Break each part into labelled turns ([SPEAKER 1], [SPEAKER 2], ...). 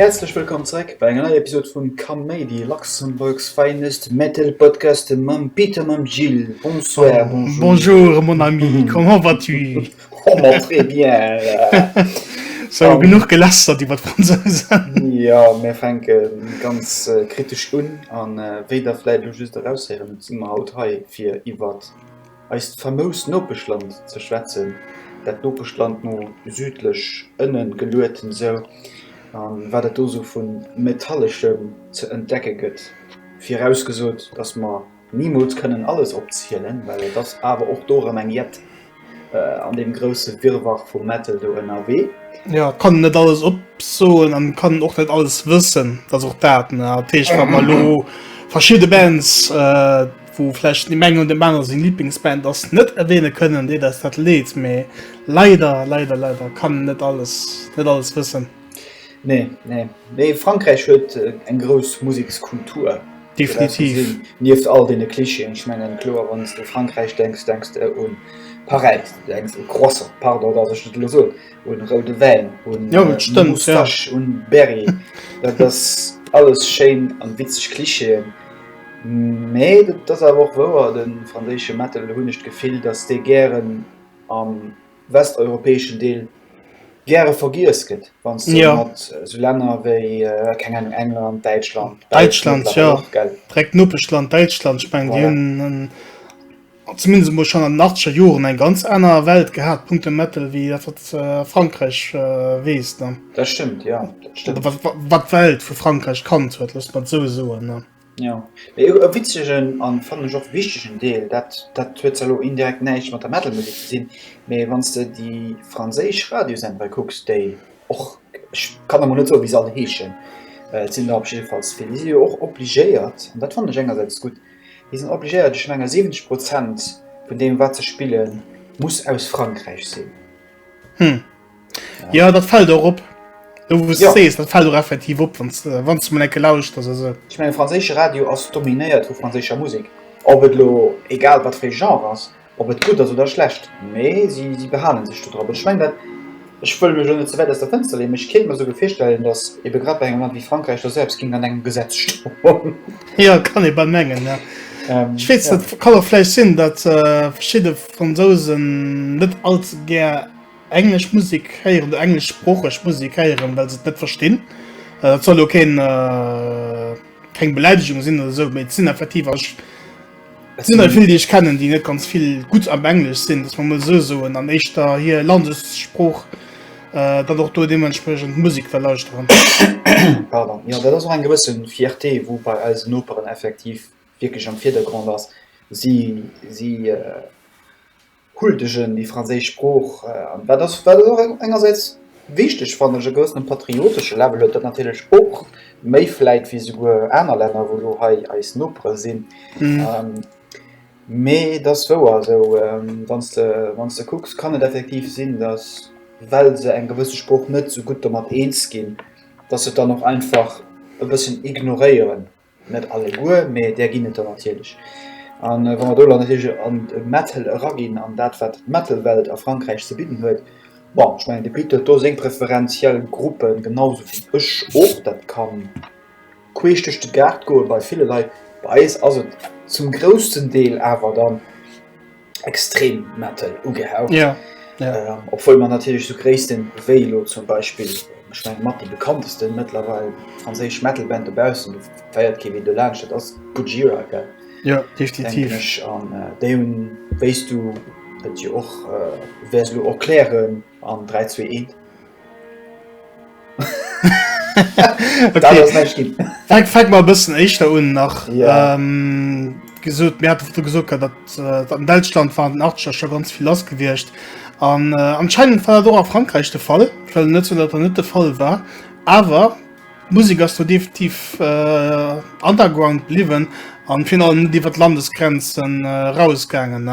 [SPEAKER 1] Häerzlech wëllkomm zréck bei enger neier Episode vun Kaméidi, Luxembourg's finest metal podcast mam Peter, mam Gilles. Bonsoir, bonjour. Bonjour mon ami,
[SPEAKER 2] comment vas-tu? genug gelästert iwwer d'Fransousen. Jo, mir fänke
[SPEAKER 1] ganz kritesch un. A wéi Der vläicht elo just eraushéieren, si mer haut hei, fir iwwer eist famoust Nopeschland ze schwätzen, dat Nopeschland no südlech ënne geluet esou, a wat et do esou vu Metalleschem ze entdecke gëtt, virausgesot, dass mer Nimools kënnen alles opzielen, well et ass awer och do erëm eng jett an deem grousse Wirrwarr vu Metal do ënnerwee. Jo, et kann een net
[SPEAKER 2] alles opsoen an et kann een och net alles wëssen, dat ass och dat. Mä dat heescht, wa mer elo verschidde Bands, wou vläicht dem engen oder dem anere seng Liblingsband ass, net erwähne kënnen, deet eis dat leed. Mä leider, leider, leider kann een net alles, net alles wëssen. Nee,
[SPEAKER 1] nee. Mee Frankräich huet eng grouss Musekskultur. Definitiv.
[SPEAKER 2] Nieft all deene
[SPEAKER 1] Clichéen, ech mengen, kloer, wann s de u Frankräich denks, denks de un Paräis, du denks u Croissant, pardon, dass ech dat elo soen, un roude Wäin, un Moustache,
[SPEAKER 2] un
[SPEAKER 1] Berry. Dat ass alles schéin an witzeg Clichéen. Mee dat ass awer och wouer, de franséische Metal, hunn ech d'Gefill, dass dee gären am. westeuropäeschen Deel gäre vergiess gëtt, wann s de ja. mat esou Länner wéi keng Ahnung England, Däitschland, Däitschland ja.
[SPEAKER 2] direkt Nopeschland Däitschland ich mein, voilà. hun zumindest mol schon an den 80er Joren eng ganz aner Welt gehabt Punkte Metal wie dat wat äh, Frankreich äh, wees ne? Dat stimmt ja, dat
[SPEAKER 1] stimmt. Oder wat, wat Welt vu
[SPEAKER 2] Frankreich kannt huet, lass mat so soen ne? Jo, mee
[SPEAKER 1] e witzegen an fannen ech och wichtegen Deel, dat dat huet zwar lo indirekt näischt mat der Metal Musek ze dinn, mee wann s de déi franséisch Radiosendere kucks, déi och, ech kann emol net soen wéi se all heeschen, et sinn der op jiddefalls vill, déi si jo och obligéiert, an dat fannen ech engersäits gutt, déi sinn obligéiert, ech menge 70 Prozent vun deem wat se spillen muss aus Frankräich sinn. Ja
[SPEAKER 2] dat fällt och op. Du wus ja. sees, dat fällt och effektiv op, wann äh, du enke lauscht ass eso. Ich mein franzésche Radio
[SPEAKER 1] ass dominéiert vu franzécher Musik. Ob et lo egal wat fir Genre ass, ob et gutt ass oder schlecht. Mee si, si behalen sech do drop. Schweng dat Ech wëll mech net ze wäit ass der Fënster leen, mech kéint mer souge virstellen, datt ebe grad bei engem Land wéi Frankräich der selbst ginn an engem Gesetz sto. ja kann e
[SPEAKER 2] bei mengen. Ja. Ähm, Schwe ja. kann fleich sinn, dat äh, verschiide Fransosen net alt gär Englesch Musik héieren oder engleschsproocheg Musik héieren, well se et net verstinn. Dat soll lo keen, keng Beläidegung sinn oder esou, mee et sinn effektiv, a ech, et sinn der vill, déi ech kennen, déi net ganz vill gutt am Englesch sinn, dass mer emol esou soen, an éischter hir Landessprooch dann och do deementspriechend Musik wëll lauschteren. Pardon.
[SPEAKER 1] Jo, dat ass och eng gewësse Fierté, wou bei eisen Noperen effektiv wierklech am Virdergrond ass. Si, si huldegen déi franséisch Sprooch an dat ass wat och engersäits wichteg fannen ech e gewëssene patriotesche Level huet dat natierlech och méi vläit wéi souguer aner Länner wou elo hei eis Nopere sinn mee et ass wouer esou wann s de wann s de kucks kann et effektiv sinn datt well se eng gewësse Sprooch net esou gutt domat eens ginn datt se et dann och einfach e bëssen ignoréieren Net alleguer, mee där ginn et der natierlech. A wa mer do elo natierlech an de Metal eraginn an dat, wat d'Metal-Welt a Frankräich ze bidden huet, bon, ech mengen, de Pit huet do seng preferenziell Gruppe genau esou wéi ech och. Dat ka queesch duerch de Gaart goe bei ville Leit. Bei eis ass et zum groussten Deel awer dann. extrem Metal ugehaucht. Ja. Ja. Ähm,
[SPEAKER 2] obwohl man
[SPEAKER 1] natürlich so gréisten Velo zum Beispiel ich mein, mat die bekanntesten mittlerweile französisch Metalband dobausen feiert Kevin de Lage dat ass Gojira ge Ja definitiv
[SPEAKER 2] an äh, dé hun
[SPEAKER 1] wéist du dat je och äh, wärst du erklären an 321 Fäck mal bëssen
[SPEAKER 2] éischter un nach yeah. ähm,
[SPEAKER 1] gesot
[SPEAKER 2] Mä du gesot dat äh, an Deutschland waren den Archer schon ganz viel lass gewircht. An äh, anscheinend war do a Frankreich de Fall, net so, dat er net de Fall war. Awer D'Musek ass do definitiv underground bliwwen an virun allem net iwwer d'Landesgrenzen eraus gaangen.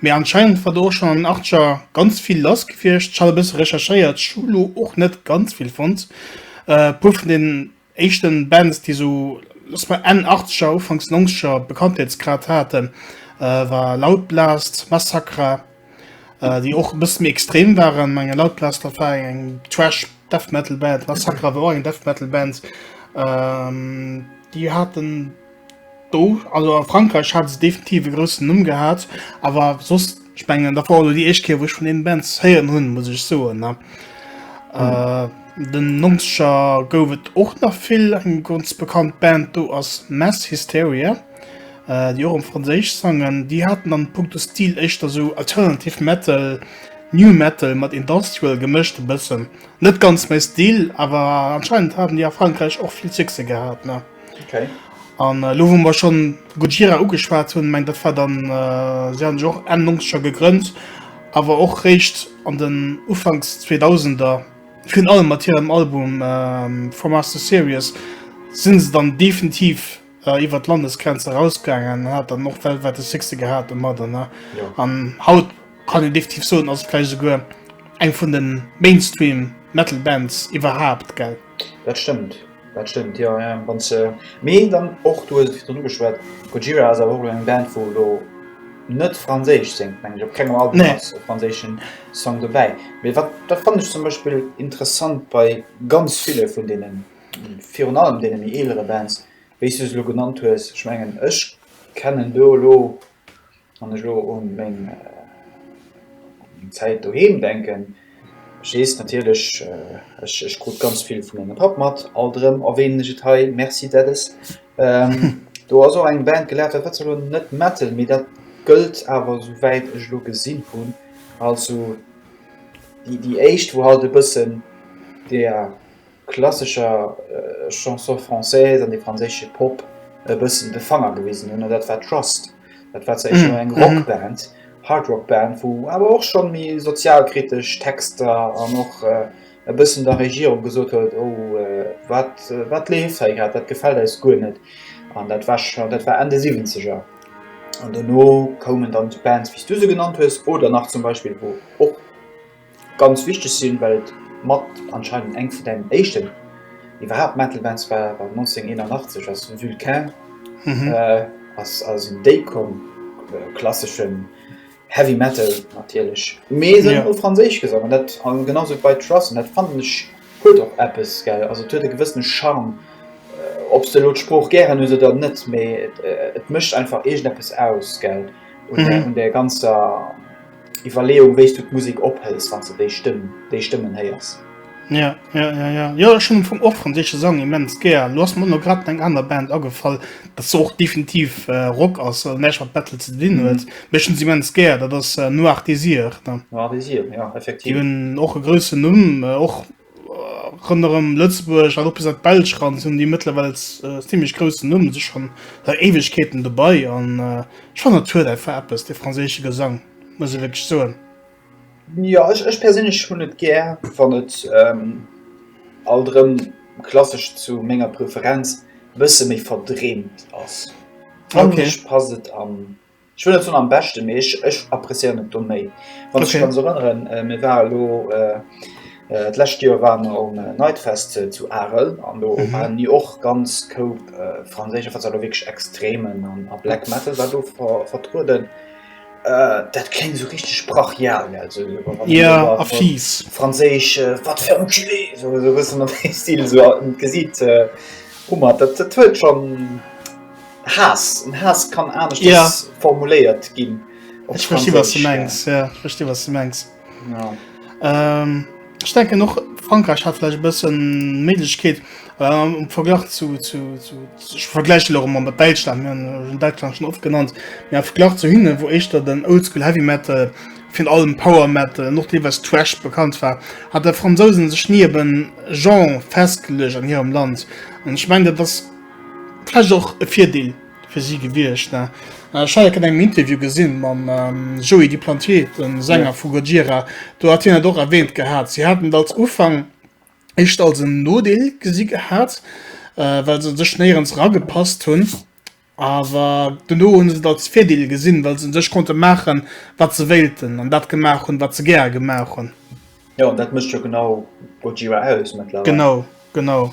[SPEAKER 2] Mee anscheinend war do och schonn an den Achtzeger ganz vill lass gewiescht. Ech hat e bësse recherchéiert, ech hu lo och net ganz vill fonnt. E puer vun den éischten Bands déi esou lass soen Enn Achtzeger Ufanks Nonzeger Bekanntheetsgrad haten war Loud Blast, Massacra, Äh, déi och e bësse méi extrem waren. Menge laut Lester war eng Trash Death Metal Band, La Sacra war eng Death Metal Band. Ähm, déi haten do, also a Frankreich hat se definitiv e groussen Numm gehat, awer soss ich mengen dat war déi éischt Kéier, wou ech vun deenen Bands héieren hunn, muss ech soen ne. Mhm. Äh, den Nonzeger gouf et och nach vill, eng ganz bekannt Band do ass Mass Hysteria. Äh, jo, rëm franséisch Sangen. Déi haten an punkto Stil éischter esou alternative metal, new metal mat industrial gemëscht e bëssen. Net ganz mäi Stil, awer anscheinend haten déi a Frankräich och vill Succès gehat, ne? Okay.
[SPEAKER 1] An elo wou
[SPEAKER 2] mer schonn Gojira ugeschwat hunn, mengen dat war dann, si hu sech och Enn Nonzeger gegrënnt, awer och réischt an den Ufanks Zweedausender, virun allem mat hirem Album From Us To Sirius, si se dann definitiv, iwwer d'Landesgrenz erausgaangen, hat dann och weltwäit de Succès gehat domat. An, ja. an haut kann een definitiv soen, ass vläicht souguer eng vun de Mainstream-Metal-Bands iwwerhaapt, gell? Dat stëmmt,
[SPEAKER 1] dat stëmmt, jo, jo. Wann se, mee dann och, du hues et virdrun ugeschwat, Gojira ass awer och elo eng Band, wou elo net Franséisch séngt, meng ech. Op kengem Album nee. ass e franséischen Song dobäi. Mee wat, dat fannen ech zum Beispill interessant bei ganz ville vun deenen. virun allem deene méi eelere Bands, wéi s du se elo genannt hues, ech mengen, ech kennen do elo, wann ech elo u meng Zäit doheem denken, ech weess natierlech, ech ech krut ganz vill vu mengem Papp mat, alt erëm erwähnen ech et hei, merci Daddys, do ass och eng Band gelaf, dat war zwar elo net Metal, mee dat gëllt awer, esou wäit ech elo gesinn hunn, als esou déi éischt, wou halt e bëssen der. klassescher Chanson française an de franséische Pop e bëssen de Fanger gewisen hunn, an dat war Trust. Dat war zwar éischter eng Rockband, Hardrockband, wou awer och schonn méi sozialkritesch Texter an och e bëssen der Regierung gesot huet, oh wat, wat leeft hei grad, dat gefält eis guer net. An dat war scho, dat war Enn de Siwwenzeger. An dono koumen dann esou Bands, wéi s du se genannt hues, oder nach zum Beispill, wou och, Ganz wichteg sinn, well et mat anscheinend eng vun den éischten iwwerhaapt Metal Bands war. 1981 ass Vulcain ass aus dem Déi komm, klasseschen Heavy Metal natierlech, mee se hunn u Franséisch gesongen, dat an genau sou bei Truss, an dat fannen ech huet och eppes, gell. Also et huet e gewëssene Charme, ob s de elo d'Sprooch gären hues oder net, mee et mécht einfach iergendeppes aus, gell, un där ganzer. Iwwerleeung wéi's du d'Musik ophëls wann s de déi Stëmm, déi Stëmmen héiers. Ja, ja,
[SPEAKER 2] ja, ja, jo ech hunn am Fong och franséische Sang immens gär. Lo ass mer no grad eng aner Band agefall, dat zwar och definitiv Rock ass an näischt mat Metal ze dinn huet, mee ech hunn se immens gär, dat ass Noir Désir. Noir Désir, jo
[SPEAKER 1] effektiv. Déi hunn och e groussen
[SPEAKER 2] Numm, och Ronderëm Lëtzebuerg an och bis an d'Belsch ran hunn déi mëttlerwells zimmlech groussen Numm sech schonn seit Éiwegkeeten dobei an ech fannen dat huet einfach eppes dee franséische Gesang, muss ech wierklech soen. Jo,
[SPEAKER 1] ech perséinlech hunn et gär wann et alt erëm klassesch zu menger Preferenz e bësse méi verdreemt ass. Fangeg passt et an Ech wëll net soen am beschte mee ech ech appréciéieren et do méi. Wann ech mech ganz erënneren, mir ware lo d'lescht Joer waren mer um Nightfest zu Arel an do waren déi och ganz koup franséisch a wat se elo wierklech Extremen a Black Metal war do vertrueden. Dat kléngt esou richteg brachial, also
[SPEAKER 2] franséisch va
[SPEAKER 1] te faire enculer, esou e bëssen an deem Stil, esou e Gesiit hu mer. Dat huet schonn. Haass, en Haass kann anescht ja. formuléiert ginn. Ech versti was du
[SPEAKER 2] mengs ja. versti was du mengs. Ja. Ähm, ich denke noch Frankreich hat vielleicht bisschen Mädchkeet ähm, im Vergleich zu, zu, zu, zu ich vergleiche noch immer mit Deutschland wir haben Deutschland schon oft genannt ja Vergleich zu hinnen wo ich da den Oldschool Heavy Metal von allem Power Metal noch die was Trash bekannt war hat der Franzosen sich nie eben Jean festgelegt an ihrem Land und ich meine das Vläicht och e Virdeel fir si gewiescht. Ech hat dat an engem Interview gesinn mam Joey Duplantier, dem Sänger vu Gojira. Do hat hien dat och erwähnt gehat. Si haten et als Ufank éischter als en Nodeel gesi gehat, well se sech néierens eragepasst hunn. Awer dono hu se et als Virdeel gesinn, well se u sech konnte maachen, wat se wéilten, an dat gemaach hunn, wat se gäre gemaach hunn. Jo, an dat mécht
[SPEAKER 1] jo genau Gojira aus mëttlerweil. Genau, genau.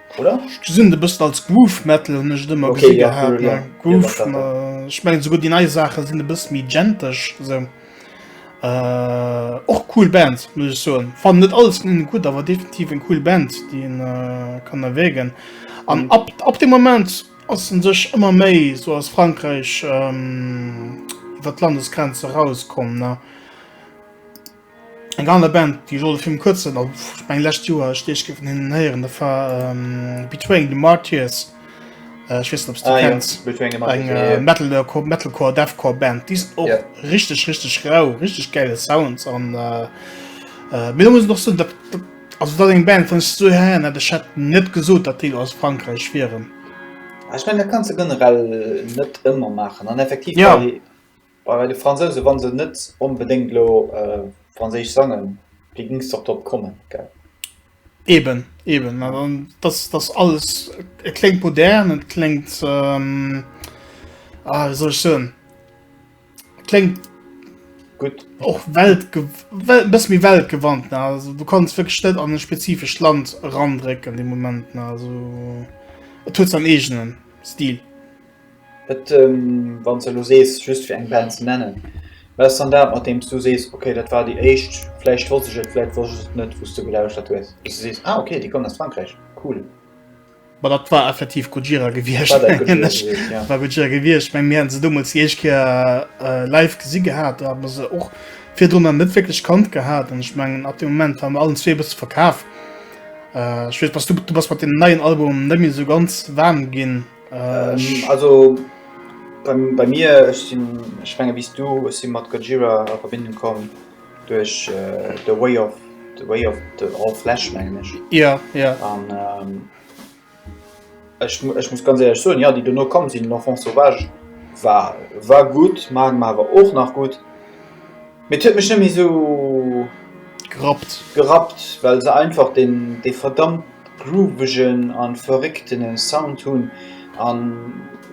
[SPEAKER 1] Oder? Ech gesinn et e bëssen
[SPEAKER 2] als Groove Metal, hunn ech et ëmmer gesi gehat. Groove, ech mengen
[SPEAKER 1] souguer déi nei
[SPEAKER 2] Saache sinn e bësse méi genteg sou. Äh, och cool Band muss ich so fan net alles von ihnen gut aber definitiv eng cool Band die in, äh, kann erwägen an mhm. ab ab dem moment aus den sich immer méi so aus Frankreich ähm, wat landesgrenze rauskommen ne? Eng aner Band, déi ech och erfir kuerzen, also ich meng lescht Joer ech deeg géif hinnen héieren, dat war ähm, Betraying the Martyrs. Äh, ich wees net, ob du ah, kennst. Ja. Betraying the Martyrs. Eng äh, ja. Metal, äh, Metalcore, Deathcore Band. Di och ja. richtig, richtig rau, richtig geile Sounds. An äh, äh, mir muss noch so, dat, dat, also dat eng Band vun so her, dat ich hätte net gesot, dat Deel aus Frankreich wären. Ah, ich mein, da
[SPEAKER 1] kannst du generell net immer machen. An effektiv. Ja. Bei de Fransousen, wann se net onbedéngt elo franséisch sangen, wéi gings de och drop kommen, gell? Eben,
[SPEAKER 2] eben, mä dann, dass dass alles, et kléngt modern, et kléngt, ah wéi soll ech soen, et kléngt
[SPEAKER 1] gutt, och welt
[SPEAKER 2] ge well e bësse méi weltgewandt, ne, also du kanns wierklech net an e spezifescht Land erandrécken de Moment, ne, also et huet säin eegenen Stil. Et
[SPEAKER 1] wann s de elo sees, just fir eng Band ze nennen, wat ass dann dat mat deem s du sees, okay dat war déi éischt, vläicht wosst ech et, vläicht wosst ech et net, wou s de gelauschtert hues, wou s de sees, ah okay déi kommen aus Frankräich, cool. Ma dat
[SPEAKER 2] war effektiv Gojira gewiescht. War dat Gojira gewiescht, ja. War Gojira gewiescht. Ech meng mir hate se deemools déi éischt Kéier live gesi gehat, do hat mer se och virdrunner net wierklech kannt gehat an ech mengen ab deem Moment ware mer allen zwee e bësse verkaf. Ech weess bass du, du bass mat deem neien Album net méi esou ganz waarm ginn. Also
[SPEAKER 1] bei mir, ech sinn, ech menge wéi s du, ech si mat Gojira a Verbindung komm duerch The Way of the Way of the All Flesh mengen ech. Jo, jo. An ech muss ganz éierlech soen, jo, déi dono komm sinn, L'Enfant Sauvage war war gutt, Magma war och nach gutt. Mee et huet mech net méi sou gerappt, gerappt well se einfach den dee verdammt groovegen a verréckten Sound hunn a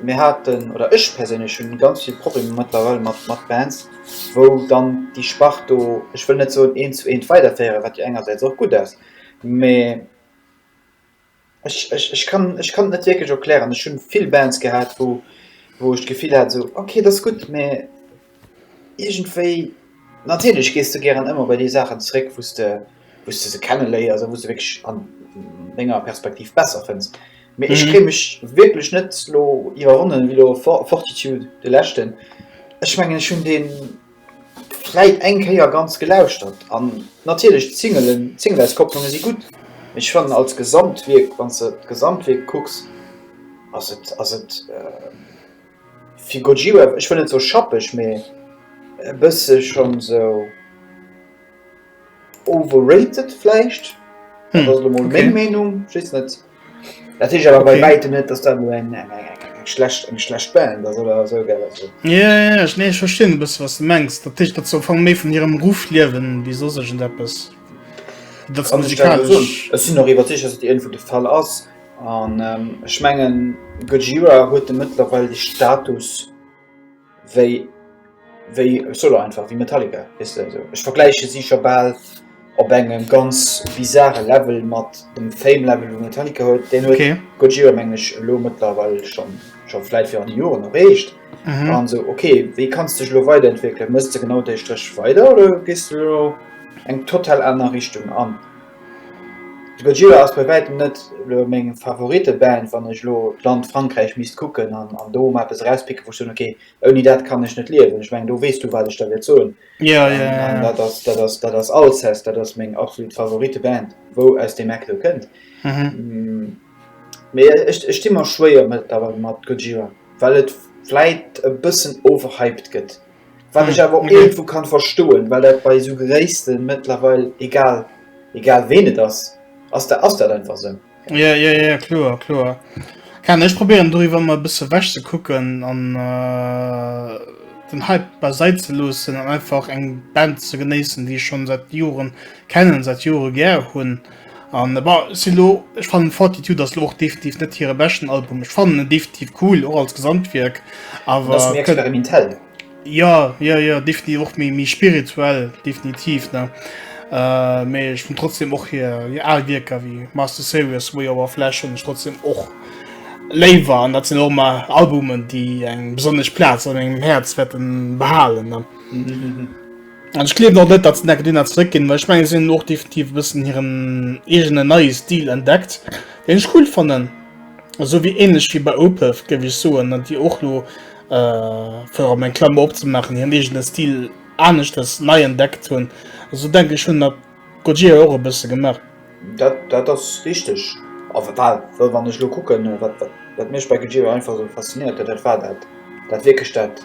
[SPEAKER 1] mir haten, oder ech perséinlech hunn ganz vill Problemer mëttlerweil mat mat Bands wou dann déi Spart do, ech wëll net soen eent zu eent weiderféieren, wat jo engersäits och gutt ass, mee Ech, ech, ech kann, ech kann et net wierklech erklären. Ech hunn vill Bands gehat, wou, wou ech d'Gefill hat esou, ok, et ass gutt, mä iergendwéi, natierlech gees de gären ëmmer bei déi Saachen zeréck, wou s de, wou s de se kenne léiers a wou s de wierklech an denger Perspektiv besser fënns. Mee ech kréie mech wierklech net elo iwwerwonnen, wéi elo Fort, Fortitude, de leschten. Ech mengen, ech hunn deen. Vläit eng Kéier ganz gelauschtert an natierlech d'Singelen, d'Singleauskopplunge si gutt, mee ech fannen als Gesamtwierk, wann s de d'Gesamtwierk kucks, ass et, ass et fir Gojira, ech wëll net soe schappeg, mee e bësse schonn esou. Overrated vläicht, dat ass elo mol meng Meenung, ech weess net. Dat heescht awer bei wäitem net, datt dat elo eng schlecht eng schlecht Band ass oder esou, gell. Also. Jo, jo, jo,
[SPEAKER 2] nee, ech verstinn e bësse wat s de mengs. Dat heescht, datt se am Fong méi vun hirem Ruff liewen wéi soss iergendeppes. Wéi datt se Kann ech dat elo soen? musikalesch.
[SPEAKER 1] Ech sinn och iwwerzeegt, datt dat iergendwou de Fall ass. An ech mengen Gojira huet de mëttlerweil de Status. wéi wéi solo einfach wéi Metallica wisst also ech vergläiche si scho bal op engem ganz bizarre Level mat dem Fame Level vu Metallica huet den okay. huet Gojira mengeg lo mëttlerweil schon schon vläit fir an die Joren erreecht mhm. an so okay wéi kannst dech lo weiterentwickeln mësst ze genau déi Strëch weider oder gist du eng total aner Richtung an De Gojira ass bei wäitem net elo meng Favoriteband, wann ech elo d'Land Frankräich misst kucken an an do mol eppes erauspicken, wou ech soen, okay, ouni dat kann ech net liewen. Ech mengen, do weess du, wat ech da wäert soen. An dat ass, dat ass, dat ass Alcest. Dat ass meng absolut Favoriteband, wou aus deem Eck do kënnt. Mee ech, ech di mer schwéier mëttlerweil mat Gojira, well et vläit e bëssen overhyped gëtt. Wat ech awer och irgendwo kann verstoen, well dat bei esou Geréisten mëttlerweil egal egal ween et ass, ass da ass dat einfach esou. Ja, ja, ja, kloer,
[SPEAKER 2] kloer. Kann ech probieren doriwwer mal e bësse wech ze kucken an äh, den Hype beiseit ze loossen an einfach eng Band ze genéissen, déi ech schon seit Joren kennen, seit Jore gär hunn. An bah, si lo, ech fannen Fortitude ass lo och definitiv net hire beschten Album. Ech fannen en definitiv cool, och als Gesamtwierk, awer... Ass méi experimentell.
[SPEAKER 1] Ja,
[SPEAKER 2] ja, ja, definitiv och méi, méi spirituell, definitiv, ne? Äh, mee ech finn trotzdem och hir, hir al Wierker wéi Master Series, Way Over Flesh hunn ech trotzdem och léiwer. An dat sinn och emmer Albumen, déi eng besonnesch Plaz an mengem Häerz wäerten behalen, ne? An ech gleewen och net, datt se Necke Dina zeréckginn, well ech menge si hunn och definitiv e bëssen hiren eegene neie Stil entdeckt, deen ech cool fannen. Esou wéi ähnlech wéi bei Opeth, géif ech soen, déi och lo, fir och eng Klammer opzemaachen, hiren eegene Stil aneschters nei entdeckt hunn. Esou denke ech hunn dat Gojira och e bësse gemaach. Dat dat ass
[SPEAKER 1] richteg. A well well wann ech elo kucken, wat wat wat mech bei Gojira einfach esou faszinéiert huet, dat war dat dat wierklech dat.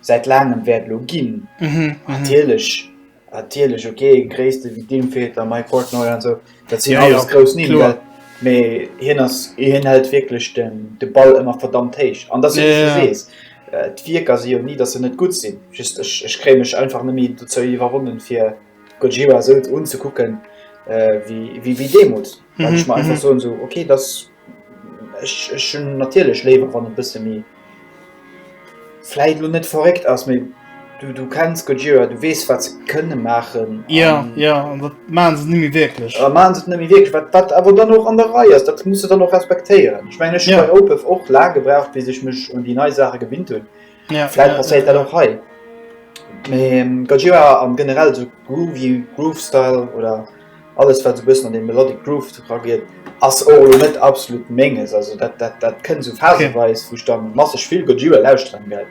[SPEAKER 1] säit laangem wäert elo ginn. Natierlech, natierlech, okay, Gréisste wéi d'Infeter, Mike Portnoy an esou, dat sinn Ja, ja, alles grouss Nimm, kloer. well mee hien ass, hien hält wierklech den, de Ball ëmmer verdammt héich. An dass du Ja, ja. sees, äh, d'Wierker si jo ni, dass se net gutt sinn, just ech, ech kréie mech einfach net méi dozou iwwerwonnen, fir Gojira esou unzekucken, äh, wéi, wéi, wéi deemools, well ech mer einfach soen esou, okay, dass. Ech ech hunn natierlech léiwer wann e bësse méi, vläit lo net verréckt ass, mee du du kenns Gojira, du weess wat se kënne maachen. Ja ja an dat
[SPEAKER 2] maachen se net méi wierklech. A maachen se et net méi wierklech, wat wat
[SPEAKER 1] awer dann och an der Rei ass, dat muss e dann och respektéieren. Ech mengen ech hunn bei Opeth och laang gebraucht bis ech mech un déi nei Saache gewinnt hunn, vläit passéiert dat och hei. Mee Gojira an generell esou Groovy, Groove Style oder. Alles wat esou bëssen an dee melodic Groove era geet ass och elo net absolut menges, also dat dat dat kënnt esou phaseweis, wou ech dann masseg vill Gojira lauschteren, well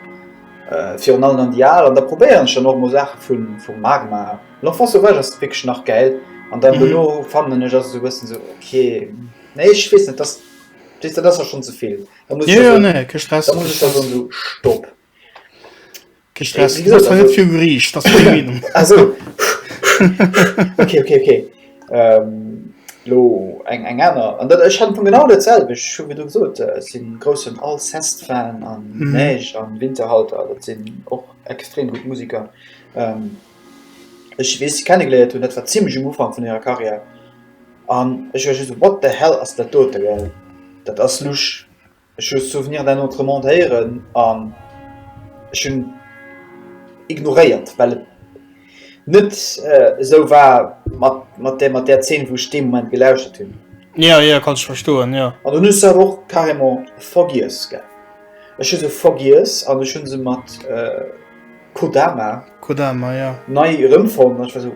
[SPEAKER 1] virun allem dann déi al, an da probéieren ech dann och mol Saachen vun vum Magma, L'enfant sauvage ass wierklech nach gäil, an dann dono fannen ech ass esou bëssen esou ok, nee ech weess net, dat weess de dat ass da schonn ze vill, da muss ech da soen, da muss ech da soen esou stopp. Lo eng eng aner an dat ech hat vun genau der Zell ech hu du gesot sinn groussen all Zest fan an Neich an Winterhalter dat sinn och extrem gutt Musiker. Ech weess kennen gléiert hunn dat war zimlech um Ufang vun hirer Karriär an ech war just ewat de hell ass dat dote well dat ass lusch. Ech hu Souvenir d'un autre monde héieren an ech hunn ignoréiert, well et net esou war mat der mat där Zeen, wou ech dee Moment gelauschtert hunn. Jo, jo, kann ech
[SPEAKER 2] verstoen, jo. An dunn hu se awer och
[SPEAKER 1] carrément vergiess, gell. Ech hu se vergiess an ech hu se mat Kodama. Kodama, jo. Nei erëmfonnt an ech war esou.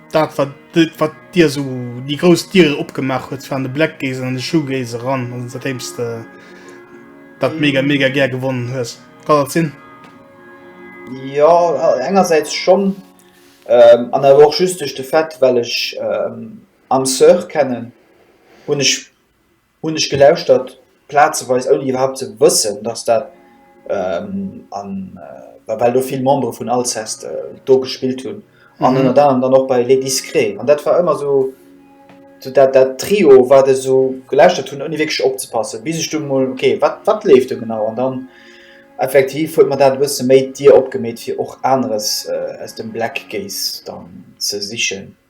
[SPEAKER 2] Dat wat dat wat dir esou déi grouss Diere opgemaach huet waren de Black Gaze an de Shoegaze eran an seitdéms de dat mega mega gär gewonnen hues. Kann dat sinn? Ja,
[SPEAKER 1] äh, engersäits schon ähm, an awer och just duerch de Fait, well ech ähm, Anne Sœur kennen, hunn ech Hunn ech gelauschtert, plazeweis ouni iwwerhaupt ze wëssen, dass dat an, bah, well do vill Membere vun Alceste do gespillt hunn an ënnert anerem dann och bei Les Discrets. An dat war ëmmer esou dat Trio, wat ech esou gelauschtert hunn, ouni wierklech opzepassen, bis ech dunn emol, ok, wat, wat leeft do genau? An dann effektiv huet mer dat e bësse méi d'Dier opgemeet, fir och aneres aus dem Black Gaze dann ze sichen.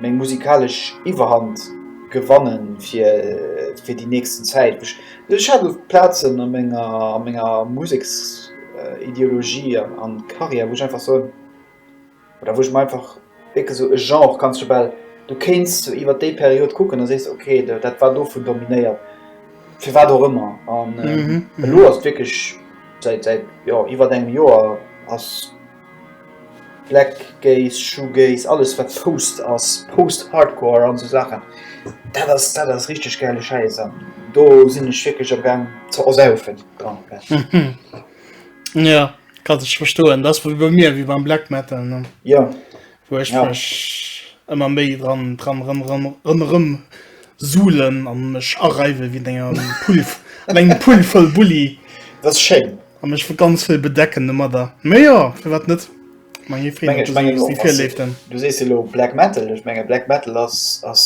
[SPEAKER 1] meng musikalesch Iwwerhand gewannen fir fir déi nächsten Zäit. Ech hat oft Plazen a menger a menger Museksideologie an Carrière wou ech einfach soen, oder wou ech mer einfach wierklech sou e Genre kanns du bal, du kéints sou iwwert déi Period kucken a sees ok dat war dovun dominéiert, firwat och ëmmer. An elo ass et wierklech säit säit jo iwwert engem Joer ass. Black Gaze, Shoegaze, alles wat Post ass, Post-Hardcore an esou Saachen, dat ass, dat ass richteg gäile Schäiss an do sinn ech wierklech am gaang ze ersaufen dran.
[SPEAKER 2] Ja, kann ech verstoen, dat ass wéi bei mir, wéi beim Black Metal, ne? Jo. wou
[SPEAKER 1] ech mech
[SPEAKER 2] ëmmer méi dran dran rëm rëm rëm rëm suhlen an mech areiwe wéi denger Pulf an engem Pull voll Bulli das ist schön
[SPEAKER 1] an mech vu ganz vill
[SPEAKER 2] bedecken domadder mé jo fir wat net
[SPEAKER 1] du sees lo black metal ech menge black metal ass ass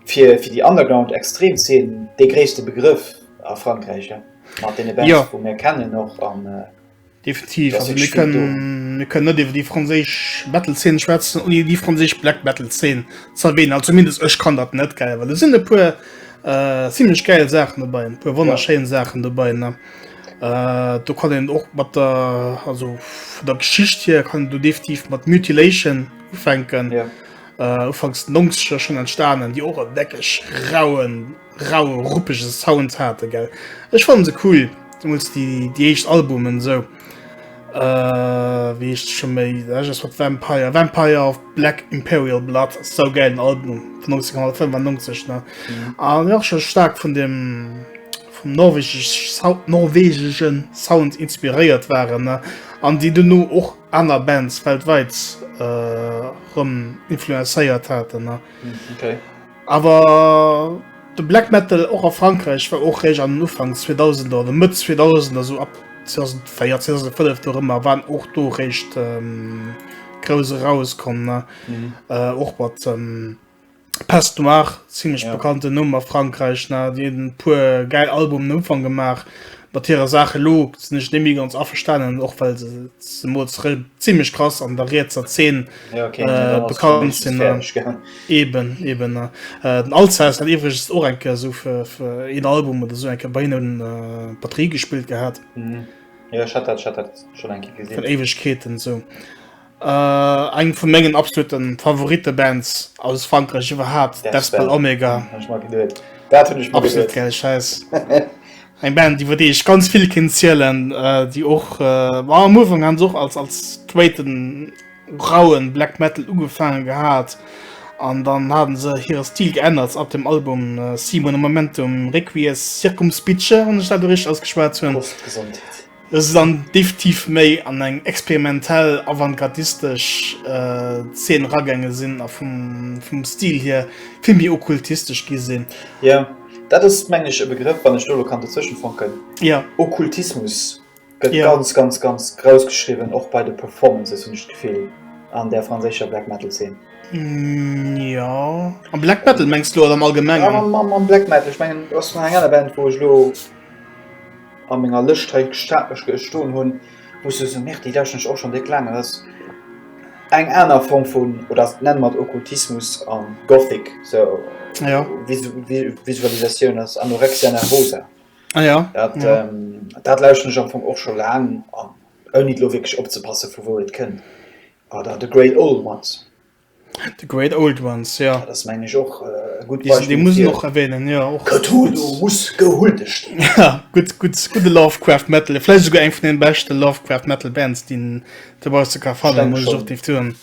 [SPEAKER 1] fir fir die underground extrem zeen de gréste begrëff a Frankräich ja mat den Event ja. vu mir kennen och an äh, Definitiv, also
[SPEAKER 2] mir können, mir können net iwwer die franzésisch Metal-Szene schwätzen ohne die franzésisch Black Metal-Szene zu erwähnen. Also zumindest ech kann dat net geil, weil da sind e puer äh, ziemlich geil Sachen dabei, e puer wunderschöne ja. Sachen dabei. Ne? Äh, du kann den och mat der also vu der Geschicht hier kann du definitiv mat Mutilation ufänken. Ja. Äh, ufangs 90 schon entstanden, die och weckeg rauen raue ruppege Sound hate gell. Ech fannen se cool demols déi déi éischt Albumen sou äh wéi heescht scho méi ech ass wat Vampire Vampire of Black Imperial Blood ass sou gäilen Album vun 1995 ne a mir och scho staark vun dem vum norwegeg Sou norwegegen Sound inspiréiert waren ne an déi duerno och aner Bands weltwäit äh rëm influencéiert haten ne.
[SPEAKER 1] Awer
[SPEAKER 2] de Black Metal och a Frankräich war och réischt an den Ufanks 2000er oder Mëtt 2000er, esou ab 2004, 2005 do erëmmer, waren och do réischt ähm, grouss erauskomm. Ne? Mhm. Äh, och mat ähm, Pest Noire, ziemlech ja. bekannten Numm a Frankräich, ne? Déi hunn e puer gäil Albumen am Ufang gemaach. mat hirer Saach elo sinn ech net méi ganz averstanen, och well se se mol zrëll ziemlech krass an der rietser Zeen Ja, okay, nee, äh, dann ass bekannt für mich sinn. fertig, Äh, gell? eben, eben. Äh, äh, den Alzhaus hat iwwregens och eng Kéier so fir, fir een Album oder so eng Kéier bei hinnen un äh, Batterie gespillt gehat, Mhm. Ja, ich hat
[SPEAKER 1] dat, ich hat dat schon eng Kéier vun gesinn. Éiwegkeeten esou.
[SPEAKER 2] Eng vun mengen absoluten Favorite Bands aus Frankreich iwwerhaapt, Despel Omega. Absolut gäil Schäiss. Eng Band iwwer déi ech ganz vill kinnt zielen, déi och war am Ufank han se och als als straighten rauen Black Metal ugefaange gehat an dann haten se hire Stil geännert ab dem Album Simul Momentum Requies Circumspice, wann ech dat do richteg ausgeschwat hunn. Et ass dann deftiv méi an eng experimentell avantgardistesch Zeen eragaange sinn a vum Stil hier vill méi okkultistesch gi sinn. Jo, dat
[SPEAKER 1] ass mengen ech e Begrëff, wann ech do elo kann dozwësche funken. Jo.
[SPEAKER 2] Okkultismus
[SPEAKER 1] gëtt ganz, ganz, ganz grouss geschriwwen, och bei de Performances hunn ech d'Gefill, an där franséischer Black Metal Zeen. Jo,
[SPEAKER 2] am Black Metal mengs de elo oder am allgemengen? Am Black Metal, ech
[SPEAKER 1] mengen, du ass vun enger aner Band wou ech elo. A menger Lëscht hei stoen hunn, muss ech soen, Merde, déi lauschteren ech och schonn déck laang. Dat ass eng aner Form vun, oder nenne mer et Okkultismus a Gothic, sou Visualisatioun ass Anorexia Nervosa. Ah jo. Dat lauschteren ech am Fong och scho laang, ouni elo wierklech opzepassen, vu wou et kënnt. Oder de Grey Owl mat The Great
[SPEAKER 2] Old Ones, jo. Dat ass meng ech och
[SPEAKER 1] e gutt Beispill. Dee muss een och
[SPEAKER 2] erwänen, jo. Och ganz gutt. Cthulhu muss
[SPEAKER 1] gehuldigt ginn. Ja, gutt, gutt,
[SPEAKER 2] gudde Lovecraft Metal. Vläicht esouguer eng vun den beschten Lovecraft Metal Bands, déi een dobausse ka fannen, muss ech och definitiv soen.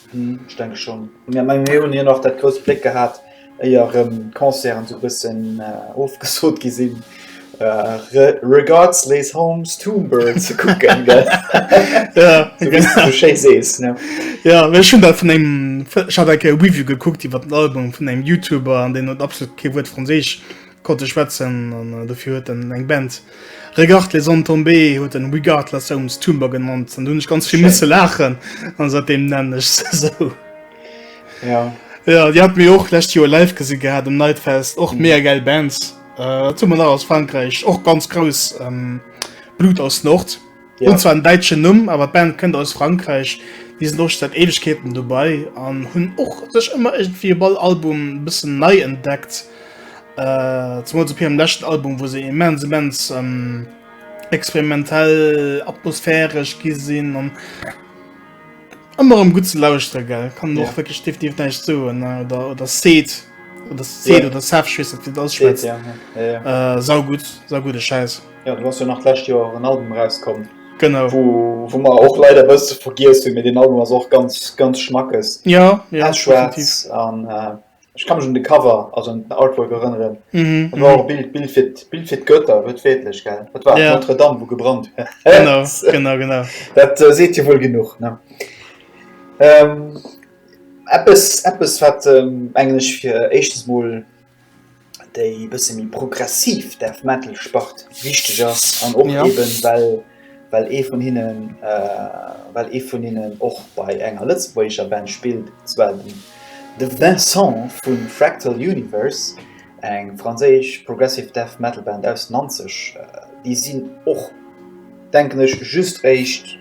[SPEAKER 2] Ech denke schonn.
[SPEAKER 1] Ech menge mir hunn hir nach dat grousst Bléck gehat. éier rëm d'Concerten sou bëssen ofgesot gi sinn, Regards Les Hommes Tombeur ze kucken,
[SPEAKER 2] gell? Sou wéi s de sou schéi sees, ne?
[SPEAKER 1] Jo, ech hunn dat vun engem,
[SPEAKER 2] ech hat eng Kéier e Review gekuckt iwwer den Album vun engem Youtuber an deen huet absolut kee Wuert Franséisch Konnt e schwätzen an dofir huet en eng Band Regarde les hommes tomber huet en Regard les hommes tumber genannt an do hunn ech ganz vill misse laachen an säitdeem nennen
[SPEAKER 1] ech
[SPEAKER 2] se esou. Jo. Jo, déi hat mir och lescht Joer live gesi gehat um Nightfest, och mega gäil Band. Wat hu mer nach aus Frankräich? Och ganz grouss Blut aus Nord. Ja. Hun zwar en deitschen
[SPEAKER 1] Numm,
[SPEAKER 2] awer d'Band kënnt aus Frankreich. Déi sinn och scho seit Ewegkeeten dobei an hunn och sech ëmmer irgendwie op all Album e bëssen nei entdeckt. Äh, zemools op hirem leschten Album, wou se immens, immens ähm, experimentell, atmosphäresch gi sinn an ëmmer em gutt ze lauschtere gell. Kann Ja. och wirklich definitiv näischt soen äh, oder oder Seed oder Seed Ja. oder Seth, ich weess net, wéi dat Seet, ausspricht. ja, ja, ja, ja. Äh, saugutt, saugudde Schäiss. Ja, du hast jo nach d'lescht
[SPEAKER 1] Joer en Album rauskomm. Genau. Wou,
[SPEAKER 2] wou mer och
[SPEAKER 1] leider e bësse vergiess hunn, mee deen Album ass och ganz, ganz schmackes. Ja, ja. Pechschwaarz an äh, ech kann mech un de Cover, also un den Artwork erënneren. Mhm. Dat war mhm. och Bild, Bild, fir, Bild fir d'Götter, wörtwörtlich, gell? Dat war ja. Notre Dame, wo gebrannt wär. Genau, genau,
[SPEAKER 2] genau. Dat äh, seet
[SPEAKER 1] Dir wuel genug, ne? Ähm, eppes, eppes wat ähm, englech fir éischtes Mol déi e bësse méi progressiv Death Metal Spart wichteg ass an och ja. eben well well ee vun hinnen äh, well ee vun hinnen och bei enger lëtzebuergescher Band spilt, zwar den de Vincent vun Fractal Universe, eng franséisch Progressive Death Metal Band aus Nanzeg. Äh, déi sinn och denken ech just éischt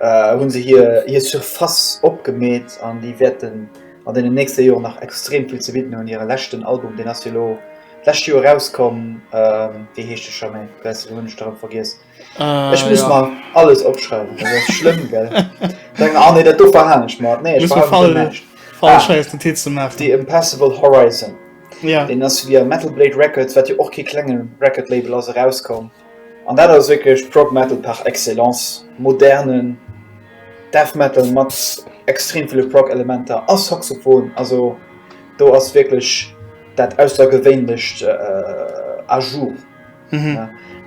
[SPEAKER 1] hunn se hir Surface opgemeet an déi wäerten an deenen nächste Joren nach extrem vill ze bidden hunn. Hire leschten Album, deen ass jo elo d'lescht Joer erauskomm, wéi heescht de scho? Mee bäs elo hunn ech de rëm vergiess. Ech muss mer alles opschreiwen, dat ass schlëmm, gell? Ah nee, dat do verhalen ech mer. Nee, ech verhale mer näischt. Ah, The Impassable Horizon, deen ass via Metal Blade Records, wat jo och kee klenge Record-Label ass, erauskomm. An dat ass wierklech Prog Metal par excellence, modernen Death Metal mat extrem ville Prog Elementer a Saxophon. Also do ass wierklech dat aussergewéinlecht à jour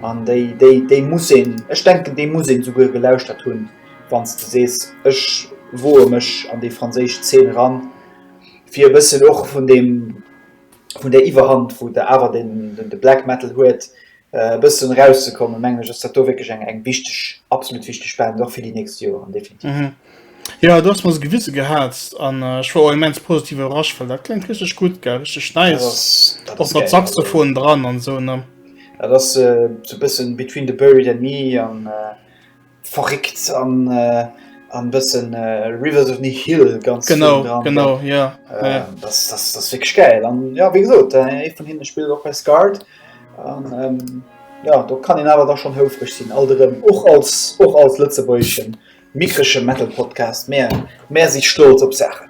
[SPEAKER 1] an déi déi déi muss een, ech denken déi muss een esouguer gelauschtert hunn wann s de sees ech woe mech an déi franséisch Zeen eran fir e bëssen och vun deem vun där Iwwerhand wou de awer den de Black Metal huet e bëssen erauszekommen, mengen ech, ass dat do wierklech eng, eng wichteg, absolut wichteg Band, och fir déi nächst Joren, definitiv. Mhm. Ja, du
[SPEAKER 2] hast mir se gewisse gehat an äh, ich war immens positiv überrascht, weil dat klingt richtig gut ge richtig nice op mat Saxophon dran an so ne. Ja, das äh,
[SPEAKER 1] so bisschen between the buried and me an äh, Verréckt an an bëssen Rivers of Ni Hill ganz genau genau ja
[SPEAKER 2] das das
[SPEAKER 1] das wé geil an ja wé gesot e vun hinne spielt op bei Scard an ähm, ja do kann en awer da schon houfreg sinn all derëm och als och als Lëtzebeischen mikresche Metal Podcast Mä Mä si stolz op Saachen.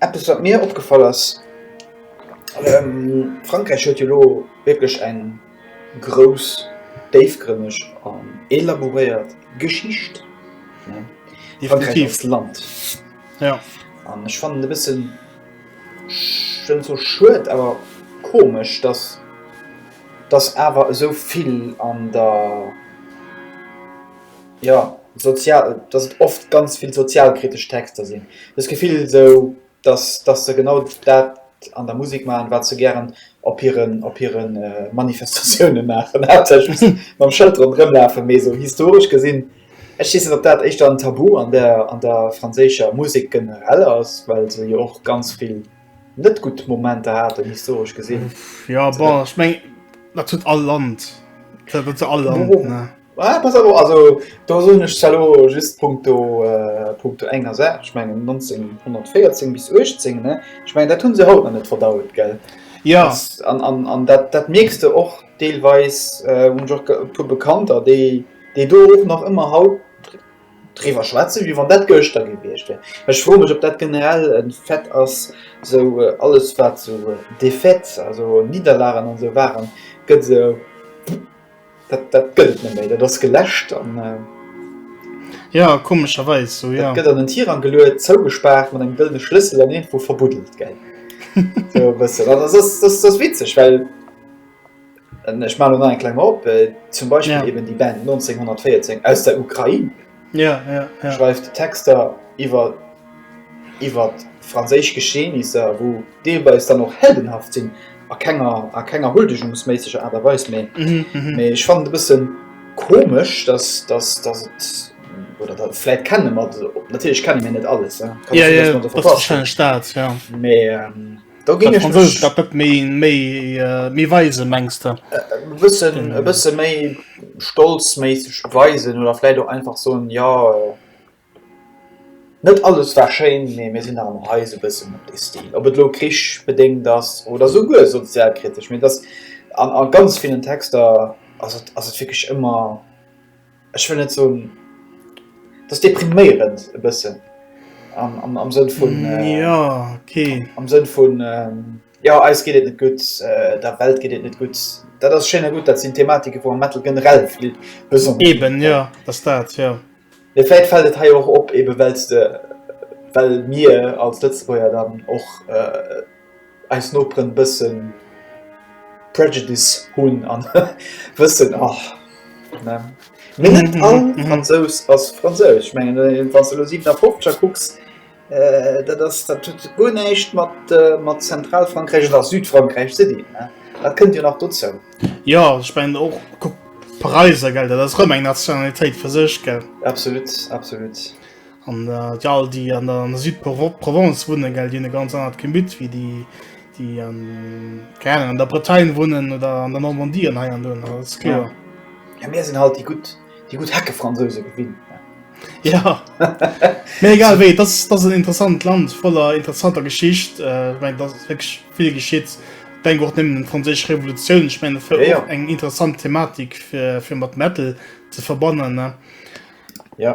[SPEAKER 1] Eppes wat mir opgefall ass, Frankräich huet jo elo wierklech eng grouss, déifgrënneg an elaboréiert Geschicht, Frankräich als Land.
[SPEAKER 2] An ech fannen
[SPEAKER 1] e bëssen, ech wëll net soe schued, awer komesch, datt datt awer esou vill an der, Jo, sozial, dass et oft ganz vill sozialkritesch Texter sinn. Dës Gefill esou, dass, dass se genau dat an der Musek maachen, wat se gären op hiren, op hire Manifestatiounen maachen, haaptsächlech mam Schëld ronderëm lafen. Mee esou historesch gesinn, ech weess net, ob dat éischter en Tabu an der, an der franséischer Musek generell ass, well se jo och ganz vill net gutt Momenter haten, historesch gesinn. Jo, bon, ech
[SPEAKER 2] mengen, dat huet all Land, dat huet all Land, ne. Ah, pass alo, also
[SPEAKER 1] do soen ech zwar lo just punkto, äh, punkto enger Saach, ech mengen 1914 bis 18, ne? Ech mengen dat hunn se haut nach net verdaut, gell? Ja. An,
[SPEAKER 2] an, an
[SPEAKER 1] dat, dat mierks de och deelweis, äh, hunn ech och e puer Bekannter, déi, déi do och nach ëmmer haut driwwer schwätzen, wéi wann dat gëschter gewiescht wär. Ech froe mech, ob dat generell e Fait ass, sou alles wat sou Défaites, also Nidderlagen an esou waren, gëtt esou, Dat, dat gëtt et net méi, dat ass geläscht an.
[SPEAKER 2] Ja, komescherweis
[SPEAKER 1] sou, ja. Dat gëtt an en Tirang geluet, zougespaart mat engem gëllene Schlëssel an iergendwou verbuddelt,
[SPEAKER 2] gell?
[SPEAKER 1] Sou e bëssen. An ass, ass, ass, ass witzeg, well, ech maachen elo nach eng kleng op, zum Beispill eben déi Band 1914 aus der Ukrain, Ja, ja, ja.
[SPEAKER 2] Schreift Texter
[SPEAKER 1] iwwer iwwer franséisch Geschehnisser, wou deelweis dann och heldenhaft sinn, a kenger a kenger huldegungsméisseger Aart a Weis, mee mhm, mhm. mee ech fand e bëssen komesch, dass dass dass et oder dat vielleicht kennen man natürlich kennen mir nicht alles ja, ja, ja, das das das
[SPEAKER 2] ja. Mais, ähm,
[SPEAKER 1] Da ginn ech mech dat net méi
[SPEAKER 2] méi méi weise mengst de e bëssen e
[SPEAKER 1] bësse méi stolzméisseg weisen oder fläit och einfach so en ja äh, net alles war schéin nee mir sinn am heise bëssen op de stil op et lo krich bedéngt ass oder so guer sozialkritesch mir das an a ganz vielen texter ass et ass et wirklich ëmmer ech wëll net soen, dass depriméierend e bëssen am, am Sënn vun mm, äh, ja, okay.
[SPEAKER 2] am Sënn vun
[SPEAKER 1] ähm, ja eis geet et net gutt, äh, der Welt geet et net gutt. Dat ass schénner gut, dat sinn Thematike vu Metal generell vill besonnesch. Eben ja, dass
[SPEAKER 2] dat ja. Ja, vielleicht fällt
[SPEAKER 1] es hei auch op, eben weil du, weil mir als Lützburger dann och äh, eis Noperen e bëssen Prejudice hunn an wëssen, ach ne. Mee net all Fransous ass Franséisch. Ech mengen, wann s de elo 57er kucks, dat ass, dat huet guer näischt mat, mat Zentralfrankräich oder Südfrankräich ze dinn, ne. Dat kënnt jo nach dozou. Jo, ech mengen
[SPEAKER 2] och, kuck d'Paräiser, gell, dat ass erëm eng Nationalitéit fir sech, gell. Absolut, absolut. An déi all, déi an der Südprovence wunnen, gell, déi hunn e ganz anert Gemüt wéi déi, déi, keng Ahnung, an der Bretagne wunnen oder an der Normandie an hei an do. Dat ass kloer. Jo, mir sinn halt
[SPEAKER 1] déi gutt, déi gutt Heckefransouse gewinnt. Jo,
[SPEAKER 2] mee egal wéi, et ass, et ass en interessant Land voller interessanter Geschicht. Ech mengen, et ass wierklech vill geschitt. Denk och nëmmen un d'franséisch Revolutioun. Ech mengen, fir och eng interessant Thematik fir, fir mat Metal ze verbannen, ne? Jo.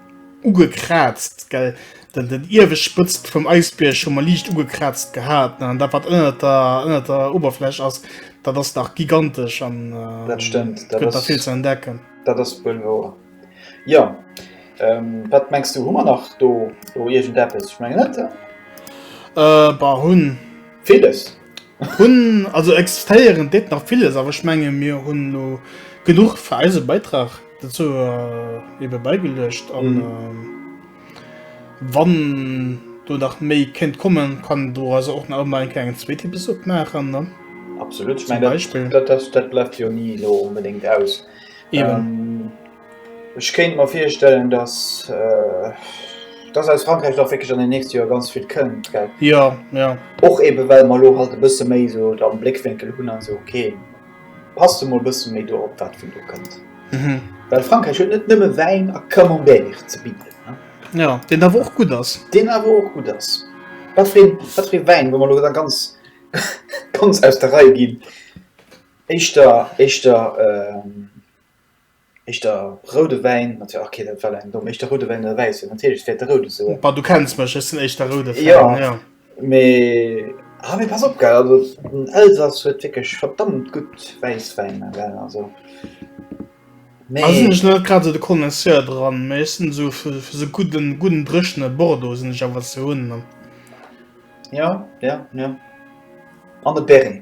[SPEAKER 2] Ugekraazt, gell? Den, den iewescht Spëtzt vum Eisbierg hu mer liicht ugekraazt gehat, ne? An dat, wat ënnert der, ënnert der Uewerfläch ass, dat ass nach gigantesch an Dat stëmmt. et Dat gëtt nach
[SPEAKER 1] vill ass, ze entdecken.
[SPEAKER 2] dat ass wuel wouer.
[SPEAKER 1] Jo. Wat mengs du, hu mer nach do, do iergendeppes? Ech mengen net, oder? Äh, bah, hunn.
[SPEAKER 2] Villes.
[SPEAKER 1] Hun
[SPEAKER 2] also existéieren dit nach vieles aber ich menge mir hun lo genug für eise Beitrag dazu äh, eben beigelöscht an mhm. äh, wann du nach méi kennt kommen kann du also auch nach mal einen zweiten Besuch machen ne? absolut ich mein,
[SPEAKER 1] Beispiel. Das, das, das bleibt
[SPEAKER 2] ja
[SPEAKER 1] nie so unbedingt aus eben ähm,
[SPEAKER 2] Ech
[SPEAKER 1] kéint mer virstellen, dass, äh, dass aus Frankräich da wierklech an den nächste Joer ganz vill kënnt, gell? Ja, ja.
[SPEAKER 2] Och eebe
[SPEAKER 1] well mer elo halt e bësse méi esou et am Bléckwénkel hunn an esou, okay, passt emol e bësse méi do op, wat vun do kënnt. Mhm. Well Frankräich huet net nëmme Wäin a Camembert ze bidden, ne? Ja, deen awer och gutt
[SPEAKER 2] ass. Deen awer och gutt ass.
[SPEAKER 1] Wat fir een, wat fir ee Wäin, wa mer elo da ganz, ganz aus der Rei ginn, éischter, éischter, äh, Eischt der roude Wäin, mat jo okay dat war eng domm, eischt der roude Wäin oder wäisse, natierlech wäert de roude soen. Bah du kenns mech, ech sinn
[SPEAKER 2] eischt der roude Fan, jo. Jo mee
[SPEAKER 1] ha mee pass op gell, also den Elsass huet wierklech verdammt gutt Wäisswäiner gell, also
[SPEAKER 2] mee. Also sinn ech net grad esou de Connoisseur dran, mee ech sinn esou fir fir esou gudden gudden dréchene Bordeaux sinn ech awer ze hunn. Jo
[SPEAKER 1] jo jo an de Berry.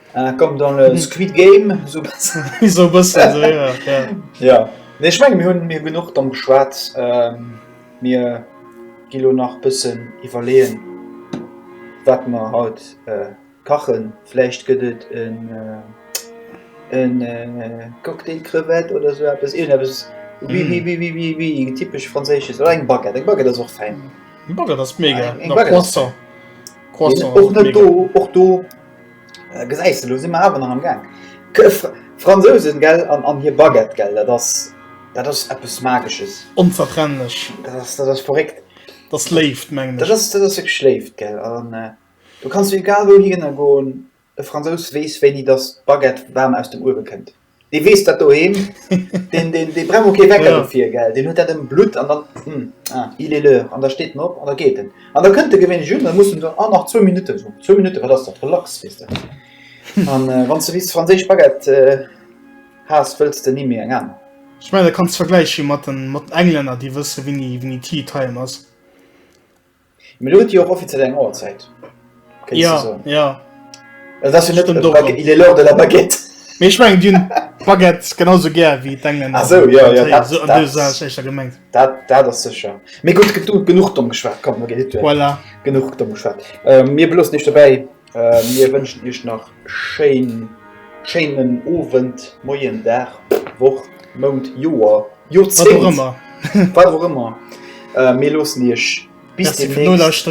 [SPEAKER 2] Ah, comme dans le
[SPEAKER 1] Squid Game, so bessen. so bessen, so, ja. ja.
[SPEAKER 2] ja.
[SPEAKER 1] Nee, ich meine, mir hunn mir genug dann geschwat. Ähm, mir gilo nach bessen iwwerleen, wat mer haut äh, kachen. Fläicht gëtt et en äh, en äh, Cocktail Crevette oder so etwas. Irgend etwas wie, wie, wie, wie, wie, wie typisch französisches. Oder eng Baguette. Eng Baguette ist auch fein. Eng Baguette ist mega. Eng Baguette.
[SPEAKER 2] Croissant. Croissant. Och net do,
[SPEAKER 1] och do Gesäis de, lo si mer awer nach am Gaang. D'Fransousen, gell, an hir Baguette, gell, dat ass, dat ass eppes Magesches. Onzertrennlech.
[SPEAKER 2] Dat ass, dat ass verréckt.
[SPEAKER 1] Dat ass Léift,
[SPEAKER 2] mengen ech. Dat ass, dat ass wierklech Léift, gell.
[SPEAKER 1] An do kanns du egal wouhinner goen, e Fransous weess, wéini dass d'Baguette waarm aus dem Uewe kënnt. Dee weess dat doheem, deen, deen, dee brauch och kee Wecker dofir, gell? Deen huet dat
[SPEAKER 2] am
[SPEAKER 1] Blutt an dann, hm, ah, il est l'heure, an da steet en op an da geet en. An da kënnt e gewéinlech un, da muss en dann, ah, nach zwou Minutten, so, zwou Minutten, wat ass dat, relax, weess de. An wann s de bis franséisch Baguette has, wëlls de ni méi eng aner. Ech mengen, dat kanns de
[SPEAKER 2] vergläiche mat den Englänner, déi wësse wéini Tea Time ass.
[SPEAKER 1] Mir huet jo och offiziell eng Auerzäit. Ja,
[SPEAKER 2] ja. Dat ass jo net
[SPEAKER 1] dem Dokter. Il est l'heure de la baguette. Mee ech mengen, Dir hunn
[SPEAKER 2] d'Baguette genauso gär wéi d'Engländer. Ah sou, jo, jo,
[SPEAKER 1] dat, dat,
[SPEAKER 2] dat, dat, dat ass sécher.
[SPEAKER 1] Mee gutt, genuch domm geschwat. Komm, genuch domm
[SPEAKER 2] geschwat.
[SPEAKER 1] Mir beloossen Iech dobäi. Mir wënschen Iech nach schéin, schéinen Owend, Moien, Dag, Woch, Mount, Joer, Joerzéngt, wat och
[SPEAKER 2] ëmmer.
[SPEAKER 1] Mir loossen Iech bis deemnächst.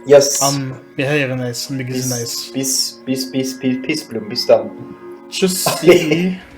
[SPEAKER 2] Yes. An
[SPEAKER 1] mir héieren
[SPEAKER 2] eis an mir gesinn eis. Bis, bis, bis,
[SPEAKER 1] bis, Pissblumm, bis dann. Tschüssi.